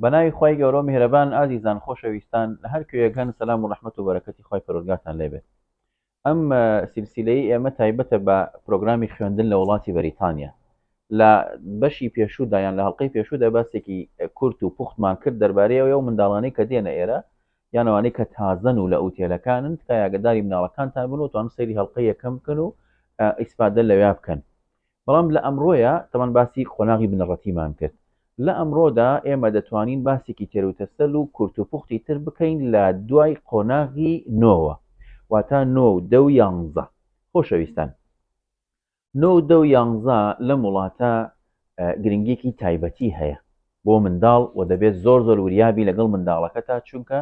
بەناوی خی گەورۆ میهرەبان ئازیزان خۆشەویستان لە هەر کوێگەن سەسلام و ڕحمت و بەرەکەتی خی پەرۆگاتان لێبێت ئەم سیلسیلەی ئێمە تایبەتە بە پرۆگرامی خوێندن لە وڵاتی بەریتانیا لە بەشی پێشوودایان لە هەڵلقەی پێشوودا باسێکی کورت و پوختمان کرد دەربارەیەوە و منداڵانی کە دێنە ئێرە یان ئەوانەی کە تازەن و لە ئوتێلەکانن تکایە ئاگەداری مناڵەکانتان بن و توانم سەیری هەڵقەی یەکەم بکەن و ئیسپادە لەویا بکەن بەڵام لە ئەمڕۆیە تەمان باسی قۆناغی بنەڕەتیمان کرد لە ئەمڕۆدا ئێمە دەتوانین باسێکی تێروتەسەل و کورت و پوختی تر بکەین لە دوای قۆناغی نۆوە واتا نۆ و دە و یانزە خۆشەویستان نۆ و دە و یانزە لەم وڵاتە گرنگیەکی تایبەتی هەیە بۆ منداڵ و دەبێت زۆر زۆر وریابی لەگەڵ منداڵەکە تا چونکە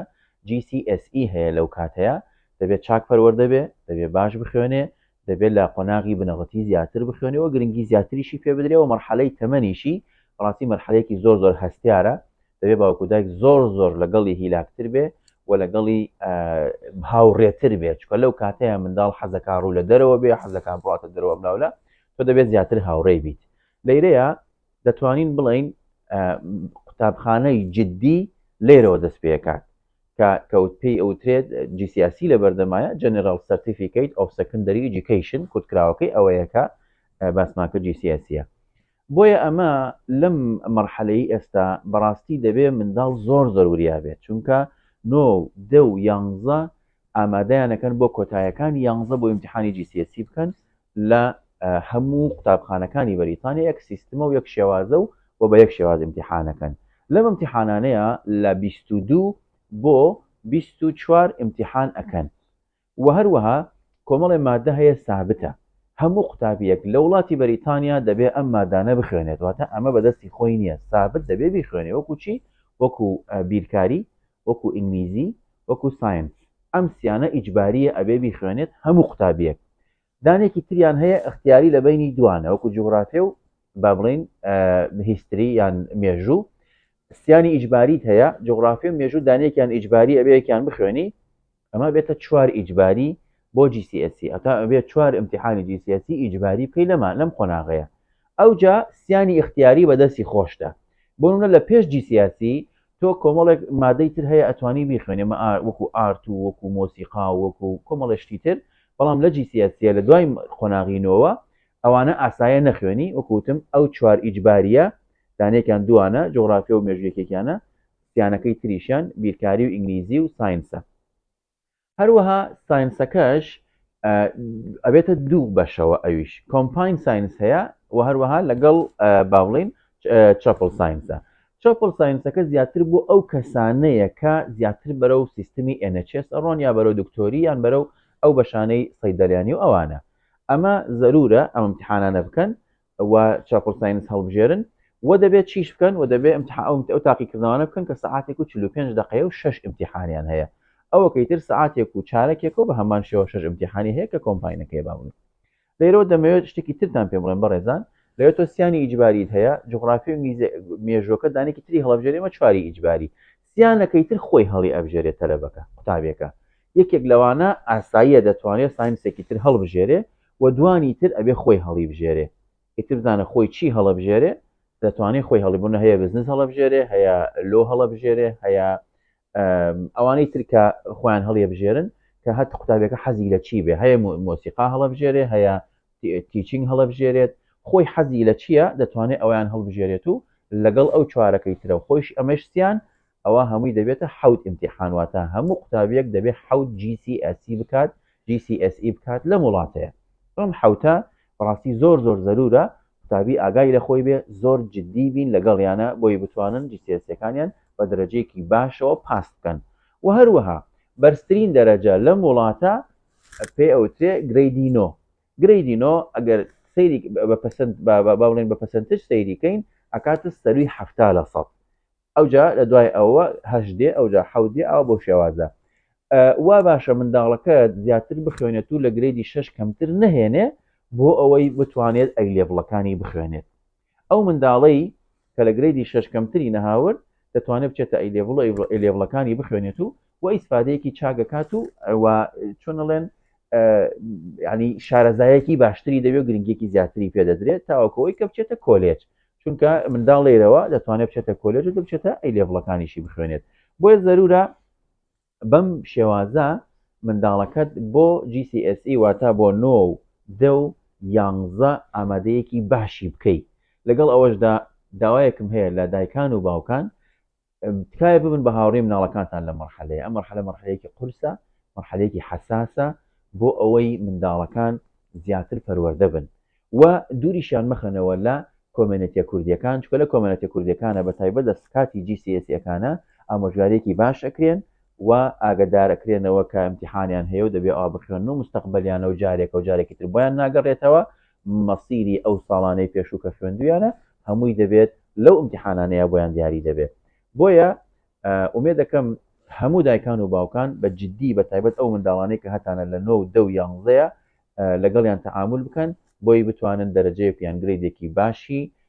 GCSE هەیە لەو کاتەیە دەبێت چاک پەروەردە بێ دەبێت باش بخوێنێ دەبێت لە قۆناغی بنەڕەتی زیاتر بخوێنەوە گرنگی زیاتریشی پێ بدرێەوە مەرحەلەی تەمەنیشی بەڕاستی مەرحەلێکی زۆر زۆر هەستیارە دەبێ باوکو دایک زۆر زۆر لەگەڵی هیلاکتر بێ و لەگەڵی هاوڕێتر بێت چکە لەو کاتەیە منداڵ حەزەکە ڕوو لە دەرەوە بێ حەزەکان بڕاتە دەرەوە بلاولە تۆ دەبێت زیاتر هاوڕێ بیت لەیرەیە دەتوانین بڵین قوتابخانەی جددی لێرەوە دەست پێکات کە کەوت پێی ئەوترێت جیسیاسی لە بەردەمایە جەنرال سەرتیفیکیت ئۆف سەکندری ئیجیکیشن کورتکراوەکەی ئەوەیەکە باسماکە جیسیاسیە بۆیە ئەمە لەم مەرحەلەی ئێستا بەڕاستی دەبێ منداڵ زۆر زۆر وریا بێت چونکە نۆ و دە و یانزە ئامادەیان ئەکەن بۆ کۆتایەکانی یانزە بۆ ئیمتیحانی GCSE بکەن لە هەموو قوتابخانەکانی بەریتانیا یەک سیستمە و یەک شێوازە و و بە یەک شێواز ئیمتیحانەکەن لەم ئیمتیحانانەیە لە بیست و دوو بۆ بیست و چوار ئیمتیحان ئەکەن وە هەروەها کۆمەڵێ مادە هەیە سابتە، هەموو قوتابیەک لە وڵاتی بەریتانیا دەبێ ئەم مادانە بخوێنێت واتە ئەمە بە دەستی خۆی نیە سابت دەبێ بیخوێنێ وەکو چی وەکو بیرکاری وەکو ئینگلیزی وەکو ساینس ئەم سیانە ئیجباریە ئەبێ بیخوێنێت هەموو قوتابیەک دانێکی تریان هەیە ئەختیاری لە بەینی دوانە وەکو جوگرافێ و با بڵین هیستری یان مێژوو سیانی ئیجباریت هەیە جوگرافی و مێژوو دانێکیان ئیجباری ئەبەیەکیان بخوێنی ئەمە بێتە چوار ئیجباری بۆ جیسیسی ئەتا ئەبێت چوار امتحانی جیسیسی ئیجباری بکەی لەما لەم قۆناغەیە ئەوجا سیانی اختیاری بەدەستی خۆشتە بۆنە لە پێش جیسیسی تۆ کۆمەڵێک مادەی تر هەیە ئەتوانی بیخوێنێ مە وەکو ئارت و وەکو مۆسیقا و وەکو کۆمەڵێ شتی تر بەڵام لە جیسیەسیە لە دوای قۆناغی نۆوە ئەوانە ئاسایە نەخوێنی وەکو وتم ئەو چوار ئیجباریە دانێکیان دوانە جوغرافیا و مێژوویەکێکیانە سیانەکەی تریشیان بیرکاری و ئینگلیزی و ساینسە هەروەها ساینسەکەش ئەبێتە دوو بەشەوە ئەویش کۆمپین ساینس هەیە و هەروەها لەگەڵ باڵین چپل ساینسە چپل ساینسەکە زیاتر بۆ ئەو کەسانەیە کە زیاتر بەرە و سیستمی NHS ئەڕۆن یا بەرەو دکتۆری یان بەرە و ئەو بەشانەی سەیدەلیانی و ئەوانە ئەمە زەرورە ئەم امتحانانە بکەن و چاپڵ ساینس هەڵبژێرن و دەبێت چیش بکەن و دەبێت امتحاومت ئەو تاقیکردنەوەە بکەن کە سعاتێک و 45 دقەیە و شش امتحانیان هەیە ئەوەکەی تر سعاتێک و چارەکێکەوە بە هەمان شێوە شش امتحانی هەیە کە کۆمپاینەکەی باون لێرەوە دەمەوێت شتێکی ترتان پێ بڵێن بەڕێزان لەوێت تۆ سیانی ئیجباریت هەیە جغرافی و مێژۆکە دانێکی تری هەڵبژێرێمە چواری ئیجباری سیانەکەی تر خۆی هەڵی ئەبژێرێت تەلەبەکە قوتابیەکە یەکێک لەوانە ئاساییە دەتوانێت ساینسێکی تر هەڵبژێرێ وە دوانی تر ئەبێ خۆی هەڵیبژێرێ ئیتر بزانە خۆی چی هەڵەبژێرێ دەتوانێ خۆی هەڵی بوونە هەیە بزنس هەڵەبژێرێ هەیە لۆ هەڵەبژێرێ هەیە ئەوانەی ترکە خۆیان هەڵیەبژێرن کە هەت قوتابێکە حەزی لە چی بێ هەیە مۆسیقا هەڵەبژێرێ هەیە تیچینگ هەڵەبژێرێت خۆی حەزی لە چییە دەتوانێت ئەویان هەڵبژێرێت و لەگەڵ ئەو چوارەکەی ترە خۆیش ئەمەشتیان ئەوا هەمووی دەبێتە حەوت ئیمتیحان واتە هەموو قوتابیەک دەبێ حەوت جی سی ئێس سی بکات جی سی ئێس ئی بکات لەم وڵاتەیا ئەم حەوتە بەڕاستی زۆر زۆر زەرورە قوتابی ئاگای لە خۆی بێ زۆر جدی بین لەگەڵیانە بۆی بتوانن جی سی ئێس سیەکانیان بە دەرەجەیەکی باشەوە پاس بکەن وە هەروەها بەرزترین دەرەجە لەم وڵاتە پێ ئەوترێ گرەیدی نۆ گرەیدی نۆ ئەگەر سەیری بە پەسەند با بڵێن بە پەسەنتج سەیری کەین ئەکاتە سەروی حەفتا لە سەد ئەوجا لە دوای ئەوە هەشت دێ ئەوجا حەوت دێ ئەوە بەو شێوازە وا باشە منداڵەکە زیاتر بخوێنێت و لە گرێدی شش کەمتر نەهێنێ بۆ ئەوەی بتوانێت ئەی لێڤڵەکانی بخوێنێت ئەو منداڵەی کە لە گرێدی شش کەمتری نەهاورد دەتوانێت بچێتە ئەی لێڤڵ ئەی لێڤڵەکانی بخوێنێت و و ئیسفادەیەکی چاگەکات و چۆنڵێن ینی شارەزایەکی باشتری دەوێت گرنگێکی زیاتری پێدەدرێت تاوەکەوەی کە بچێتە کۆلێج چونکە منداڵ لێرەوە دەتوانێت بچێتە کۆلێژ و دەبچێتە ئەی لێڤڵەکانیشی بخوێنێت بۆیە زەرورە بەم شێوازە منداڵەکەت بۆ GCSE واتە بۆ نۆ و دە و یانزە ئامادەیەکی باشی بکەیت لەگەڵ ئەوەشدا داوایەکم هەیە لە دایکان و باوکان تکایە ببن بە هاوڕێی مناڵەکانتان لەم مەرحەلەیە، ئەم مەرحەلە مەرحەلەیەکی قورسە، مەرحەلەیەکی حەساسە بۆ ئەوەی منداڵەکان زیاتر پەروەردە بن و دووریشیان مەخەنەوە لە کۆمێنێتیە کوردیەکان چکە لە کۆمێنێتە کوردیەکانە بە تایبەت لە سکاتی جیسیسیەکانە ئامۆژگارێکی باش ئەکرێن و ئاگدارەکرێنەوە کە امتحانیان هەیە و دەبێ ئا بخوێن و مستەقبلیانە و جارێکە و جارێکی تر بۆیان ناگەڕێتەوە مەسیری ئەو ساڵانەی پێشوو کە خوێندویانە هەمووی دەبێت لەو ئیمتیحانانەیا بۆیان دیاری دەبێت بۆیە ئومێ دەکەم هەموو دایکان و باوکان بە جددی بە تایبەت ئەو منداڵانەی کە هەتانە لە نۆ و دە و یانزەیە لەگەڵیان تەعامول بکەن بۆی بتوانن دەرەجەیەک یان گرێدێکی باشی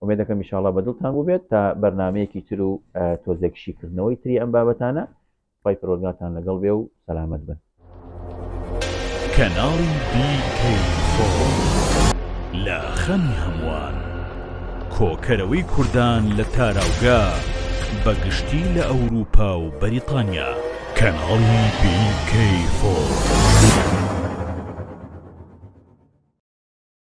ئومێدەکەم ئیشاڵڵا بە دڵتان بووبێت تا بەرنامەیەکی تر و تۆزێک شیکردنەوەی تری ئەم بابەتانە خی پرۆگاتان لەگەڵ بێ و سەلامەت بن کەناڵی لە خەمی هەمووان کۆکەرەوەی کوردان لە تاراوگە بەگشتی لە ئەوروپا و بەریتانیا کەناڵی بیکەی فۆ.